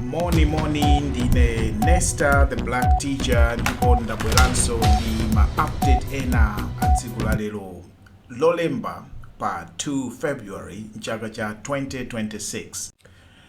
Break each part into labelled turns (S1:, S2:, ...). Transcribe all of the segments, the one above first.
S1: moni moni ndine nesta the black teacher ndipo ndabweranso ndi ma update ena a tsiku la lero lolemba pa 2 february mchaka cha 2026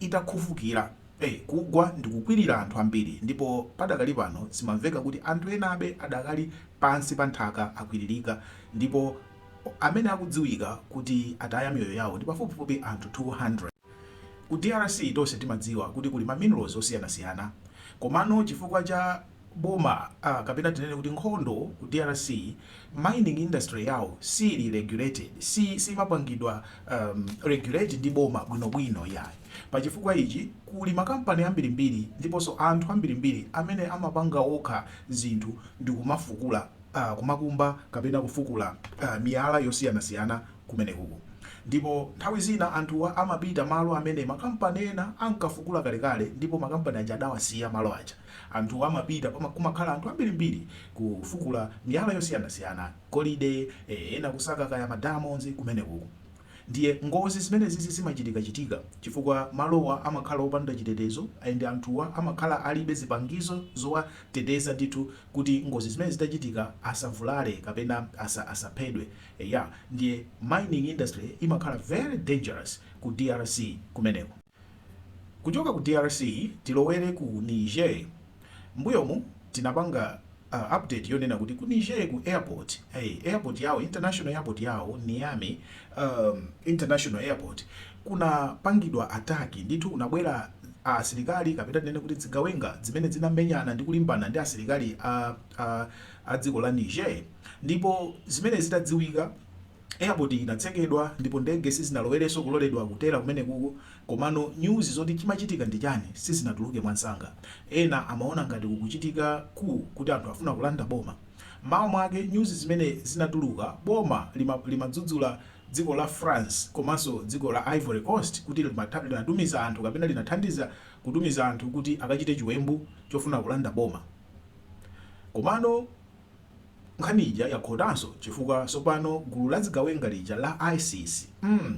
S1: itafukukira, e, kugwa ndi kukwirira anthu ambiri, ndipo padakali pano zimamveka kuti anthu enabe adakali pansi pa nthaka akwiririka, ndipo amene akudziwika kuti ataya miyoyo yawo ndi pafupifupi anthu 200. Ku drc tonse timadziwa kuti kuli ma minerals osiyanasiyana, komano chifukwa cha. boma a kapena tinene kuti nkhondo ku drc mining industry yawo siili regulated si siimapangidwa um regulate ndi boma bwinobwino iyayi pa chifukwa ichi kuli makampani ambirimbiri ndiponso anthu ambirimbiri amene amapanga okha zinthu ndikumafukula uh kumakumba kapena kufukula uh miyala yosiyanasiyana kumenekuku ndipo nthawi zina anthuwa amapita malo amene makampani ena ankafukula kalekale ndipo makampani aja adawasiya malo aja Anthuwa amapita pama kumakhala anthu ambirimbiri kufukula miyala yosiyanasiyana, golide, eh, ena kusaka kaya ma diamonds kumenekuku. Ndiye ngozi zimenezizi zimachitikachitika chifukwa malowa amakhala opanda chitetezo and anthuwa amakhala alibe zipangizo zowateteza ndithu kuti ngozi zimenezi zitachitika asavulale kapena asa asaphedwe. Eya, ndiye mining industry imakhala very dangerous ku drc kumeneko. Kuchoka ku drc tilowere ku Niger. Mbuyomu tinapanga update yonena kuti ku Niger ku airport airport yawo international airport yawo Niamey international airport kunapangidwa attack ndithu kunabwera asilikali kapena tinene kuti dzigawenga zimene zinamenyana ndi kulimbana ndi asilikali a a dziko la Niger ndipo zimene zitadziwika Airport inatsekedwa ndipo ndege sizinalowerenso kuloledwa kutera kumenekuku komano news zoti chimachitika ndi chani sizinatuluke mwansanga ena amaona ngati kukuchitika coup kuti anthu afuna kulanda boma mawa mwake news zimene zinatuluka boma lima limadzudzula dziko la France komanso dziko la Ivory coast kuti limatha linatumiza anthu kapena linathandiza kutumiza anthu kuti akachite chiwembu chofuna kulanda boma komano Nkhani ija yakhotanso chifukwa tsopano gulu la zigawenga lija la isis mm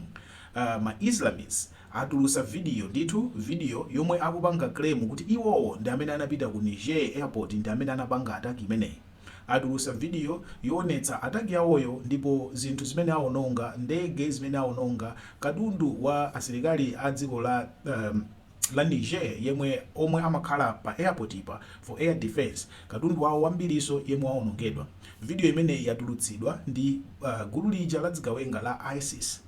S1: aah ma Islamist atulutsa video ndithu video yomwe akupanga claim kuti iwowo ndi amene anapita ku Niger airport ndi amene anapanga attack imeneyi atulutsa video yoonetsa attack yawoyo ndipo zinthu zimene awononga ndege zimene awononga katundu wa asilikali a dziko la la Niger yemwe omwe amakhala pa airport-pa for air defense katundu wawo wambirinso yemwe waonongedwa. Video imeneyi yatulutsidwa ndi gulu lija la dzigawenga la isis.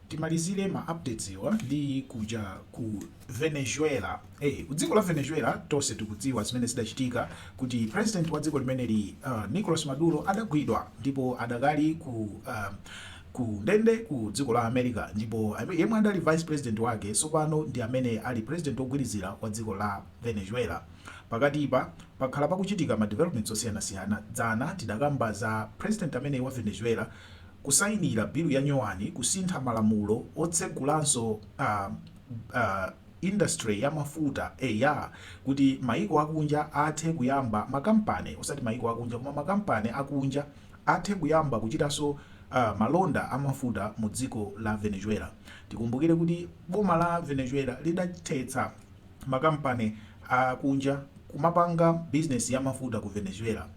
S1: timalizire ma updates-wa ndi kuja ku Venezuela eh ku dziko la Venezuela tonse tikudziwa zimene zidachitika kuti president wa dziko limeneli uh, Nicolas Maduro adagwidwa ndipo adakali ku uh, ku ndende ku dziko la America ndipo yemwe adali vice president wake sopano ndi amene ali president ogwirizira wa dziko la Venezuela pakatipa pakhala pakuchitika ma developments osiyanasiyana dzana tidakamba za president amene wa Venezuela Kusayinira bilu ya nyowani kusintha malamulo otsegulanso a a industry ya mafuta eya kuti maiko akunja athe kuyamba makampani osati maiko akunja koma makampani akunja athe kuyamba kuchitanso a malonda a mafuta mu dziko la Venezuela tikumbukire kuti boma la Venezuela lidathetsa makampani akunja kumapanga bizinesi ya mafuta ku Venezuela.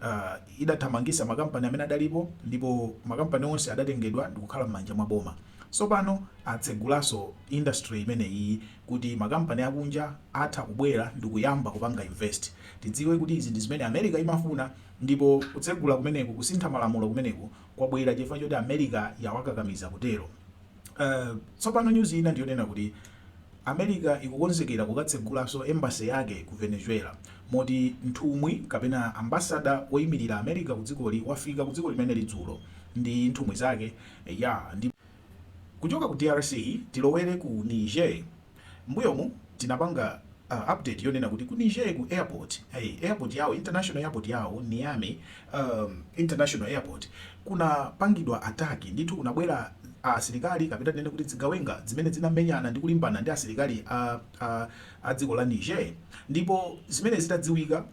S1: Uh, idathamangisa makampani amene adalipo ndipo makampani onse adatengedwa ndikukhala m'manja mwa boma. Tsopano atsegulaso industry imeneyi kuti makampani akunja atha kubwera ndikuyamba kupanga invest. Tidziwe kuti izi ndi zimene America imafuna ndipo kutsegula kumeneku, kusintha malamulo kumeneku kwabwera chifukwa choti America yawakakamiza kutero. Uh, tsopano news ina ndiyonena kuti America ikukonzekera kukatsegulanso embassy yake ku Venezuela moti nthumwi kapena ambassador woyimirira America ku dzikoli wafika ku dziko limeneli dzulo ndi nthumwi zake yaa ndi Kuchoka ku drc tilowere ku Niger mbuyomu tinapanga update yonena kuti ku Niger ku airport airport yawo international airport yawo Niamey um, international airport kunapangidwa ataki ndithu kunabwera asilikali kapena tinene kuti dzigawenga zimene zinamenyana ndi kulimbana ndi asilikali a, a, a dziko la Niger ndipo zimene zitadziwika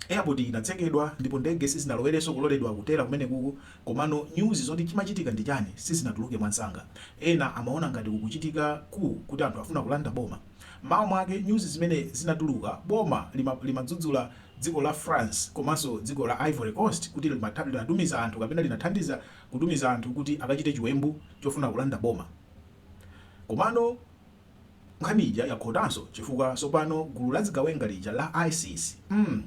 S1: airport inatsekedwa ndipo ndege sizinaloledwenso kuloledwa kutera kumenekuku komano news zoti chimachitika ndi chani sizinatuluke mwansanga ena amaona ngati kukuchitika ku kuti anthu afuna kulanda boma mawa mwake news zimene zinatuluka boma limadzudzula lima dziko la France komanso dziko la Ivory Coast kuti linatumiza anthu kapena linathandiza kutumiza anthu kuti akachite chiwembu chofuna kulanda boma. Komano nkhani ija yakhotanso chifukwa tsopano gulu la dzigawenga lija la isis, mm,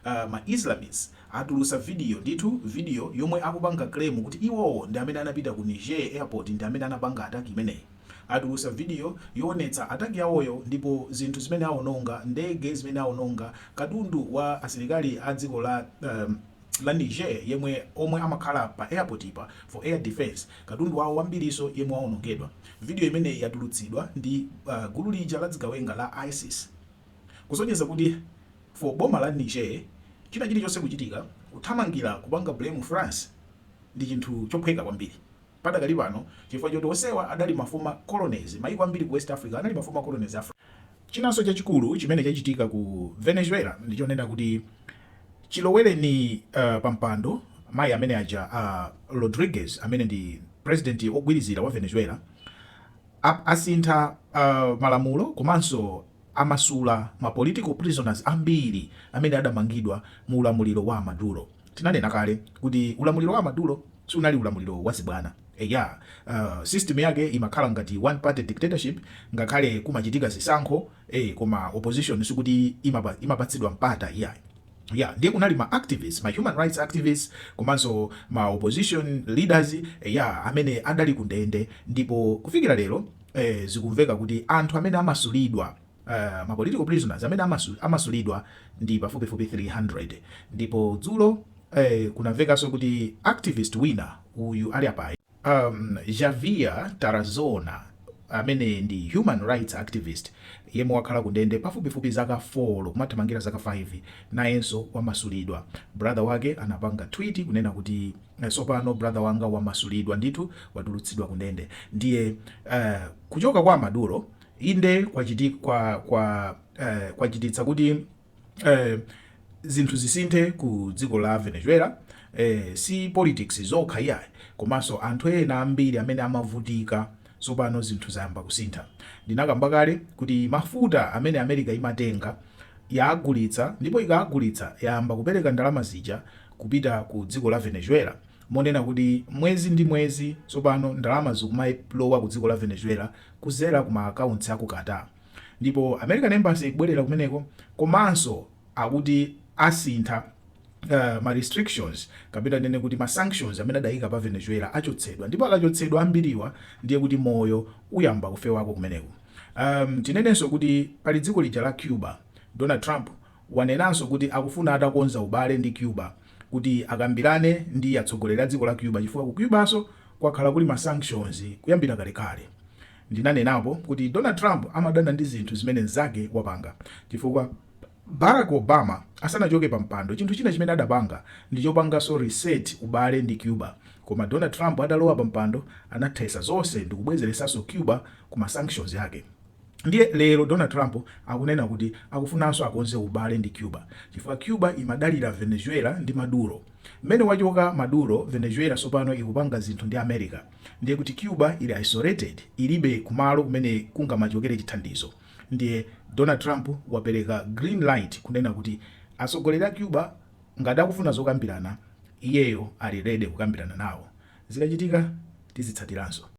S1: uh, ma Islamists atulutsa video ndithu, video yomwe akupanga claim kuti iwowo ndi amene anapita ku Niger airport ndi amene anapanga attack imeneyi. Atulutsa video yoonetsa attack yawoyo ndipo zinthu zimene awononga, ndege zimene awononga, katundu wa asilikali a dziko la Niger yemwe omwe amakhala pa airport pa for air defence katundu wawo wambiriso yemwe wawonongedwa. Video imeneyi yatulutsidwa ndi gulu lija la dzigawenga la isis kusonyeza kuti for boma la Niger china chilichonse kuchitika kuthamangira kupanga blame France ndi chinthu chophweka kwambiri. Padakali pano, chifukwa choti onsewa adali ma former colonies, maiko ambiri ku West Africa anali ma former colonies a France. Chinanso chachikulu chimene chachitika ku Venezuela ndi chonena kuti chilowereni pampando mayi amene aja a Rodriguez amene ndi president ogwirizira wa Venezuela, asintha malamulo komanso. Amasula ma political prisoners ambiri amene adamangidwa mu ulamuliro wa a Maduro. Tinanena kale kuti ulamuliro wa a Maduro sunali ulamuliro wa zibwana. Eya, system yake imakhala ngati one party dictatorship ngakhale kumachitika zisankho ee koma opposition sikuti imapatsidwa mpata iyayi. Eya, ndiye kunali ma activists, ma human rights activists komanso ma opposition leaders eya amene adali kundende ndipo kufikira lero. eh, zikumveka kuti anthu amene amasulidwa uh, ma political prisoners amene amasu, amasulidwa ndi pafupifupi 300 ndipo dzulo eh, kunamvekanso kuti activist wina uyu ali apayi um, Javier Tarazona amene ndi human rights activist yemwe wakhala kundende pafupifupi zaka 4 kumathamangira zaka 5 nayenso wamasulidwa brother wake anapanga tweet kunena kuti tsopano brother wanga wamasulidwa ndithu watulutsidwa kundende ndiye uh, kuchoka kwa maduro inde kwachiti, kwa, kwa, uh, kwachititsa kuti uh, zinthu zisinthe ku dziko la venezuela eh, si politics zokha iyayi komanso anthu ena ambiri amene amavutika tsopano zinthu zayamba kusintha ndinakamba kale kuti mafuta amene america imatenga yaagulitsa ndipo ikaagulitsa yayamba kupereka ndalama zija kupita ku dziko la Venezuela monena kuti mwezi ndi mwezi tsopano ndalama zikumalowa ku dziko la Venezuela kuzera ku ma accounts a ku Qatar ndipo American Embassy ikubwerera kumeneko komanso akuti asintha ma restrictions kapena tinene kuti ma sanctions amene adayika pa Venezuela achotsedwa ndipo akachotsedwa ambiriwa ndiye kuti moyo uyamba kufewako kumeneko. Tinenenso kuti pali dziko lija la Cuba, Donald Trump wanenanso kuti akufuna atakonza ubale ndi Cuba kuti akambirane ndi atsogoleri a dziko la Cuba chifukwa ku Cubanso kwakhala kuli ma sanctions kuyambira kalekale. Ndinanenapo kuti Donald Trump amadana ndi zinthu zimene mnzake wapanga chifukwa Barack Obama asanachoke pampando chinthu china chimene adapanga ndi chopanganso reset ubale ndi Cuba koma Donald Trump atalowa pampando anathesa zonse ndikubwezeresanso Cuba ku ma sanctions yake. Ndiye lero Donald Trump akunena kuti akufunanso akonze ubale ndi Cuba chifukwa Cuba imadalira Venezuela ndi Maduro. Mmene wachoka Maduro, Venezuela tsopano ikupanga zinthu ndi America. Ndiye kuti Cuba ili isolated, ilibe kumalo kumene kungamachokere chithandizo. Ndiye Donald Trump wapereka green light kunena kuti atsogoleri a Cuba ngati akufuna zokambirana, iyeyo ali ready kukambirana nawo. Zikachitika tizitsatiranso.